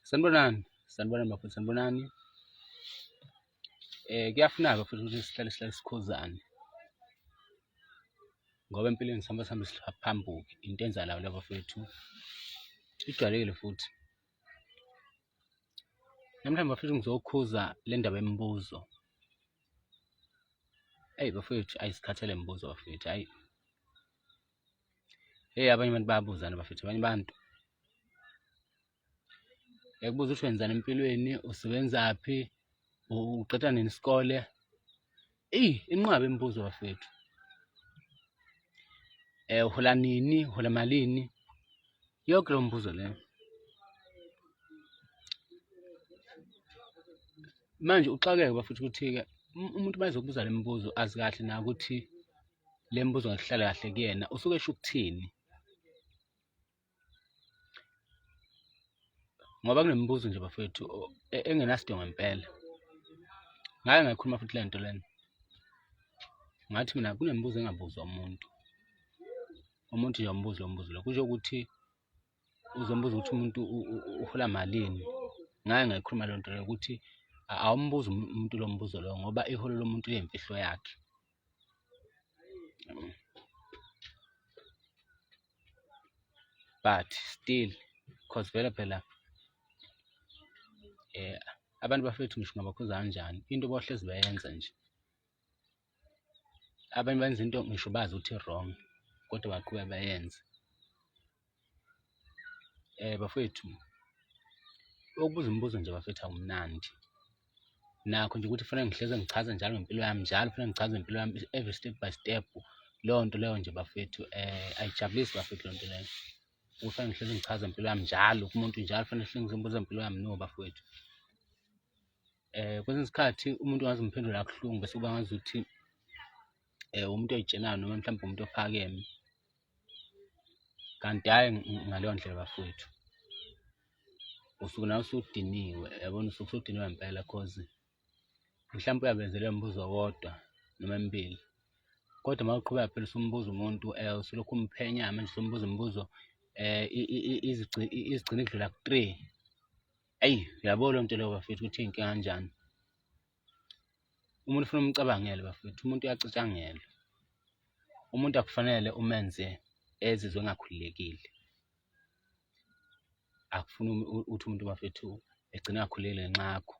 Sanibonani, sanibonani bafowethu, sanibonani. Eh kuyafuneka futhi ukuthi sihlale sihlale sikhuzane. Ngoba empilweni sihamba sihambe siphambuke into enzalayo la bafowethu. Ijwayelekile futhi. Namhlanje bafowethu ngizokhuza le ndaba yemibuzo. Eyi bafowethu ayisikhathele imibuzo bafowethu, ayi. Hey abanye abantu bayabuzana bafethu abanye abantu yakubuza ukuthi wenzani empilweni usebenzaphi uqeda nini isikole eyi inqaba imibuzo bafethu eh uhola nini uhola malini yonke lo mbuzo le manje uxakeke bafethu ukuthi-ke umuntu uma ezokubuza le mibuzo azi kahle na ukuthi le mbuzo ngikuhlala kahle kuyena usuke esho ukuthini ngoba kunemibuzo nje bafethu e, engenasidingo ngempela ngake ngayikhuluma futhi le nto lena ngathi mina kunemibuzo engabuzwa umuntu umuntu nje umbuzo lombuzo lo kusho ukuthi uzombuza ukuthi umuntu uhola malini ngaye ngayikhuluma lento leyo ukuthi awumbuza um-, umuntu lo mbuzo loyo ngoba iholo lomuntu liyimfihlo yakhe but still cause vele phela um abantu bafethu ngisho ngabakhuza kanjani into bohlezi bayenza nje abanye benza into ngisho bazi ukuthi wrong kodwa baqhube bayenze eh bafethu ukubuza imibuzo nje bafethu awumnandi nakho nje ukuthi kufanele ngihleze ngichaze njalo ngempilo yami njalo kufanele ngichaze ngempilo yami every step by step leyo nto leyo nje bafethu eh ayijabulisi bafethu leyo nto leyo kufanele ngihlezi ngichaza impilo yami njalo kumuntu njalo kufanele ngihlezi ngibuza impilo yami no bafowethu um kwesinye isikhathi umuntu ngaze umphendula kabuhlungu bese kuba ngazuthi um umuntu oyitshelayo noma mhlawumbe umuntu ophakeme kanti hhayi ngaleyo ndlela bafowethu usuke nawe usudiniwe yabona usuke usudiniwe ngempela cause mhlawumpe uyabenzele umbuzo owodwa noma emibili kodwa uma uqhubeka phela usumbuza umuntu um usulokhu umphenya manje usumbuza imibuzo um izigcina idlula ku-three Eyi uyabo loo nto leyo bafethu ukuthi iy'nkinga kanjani. Umuntu ufuna umcabangele bafethu, umuntu uyacatshangelwa. Umuntu akufanele umenze ezizwe engakhululekile. Akufuni ukuthi umuntu bafethu egcine engakhululekile ngenxa yakho.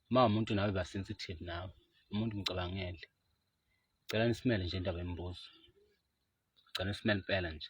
Uma umuntu nawe ba sensitive nawe, umuntu mcabangele. Ngicela nisimele nje indaba yemibuzo. Ngicela nisimele impela nje.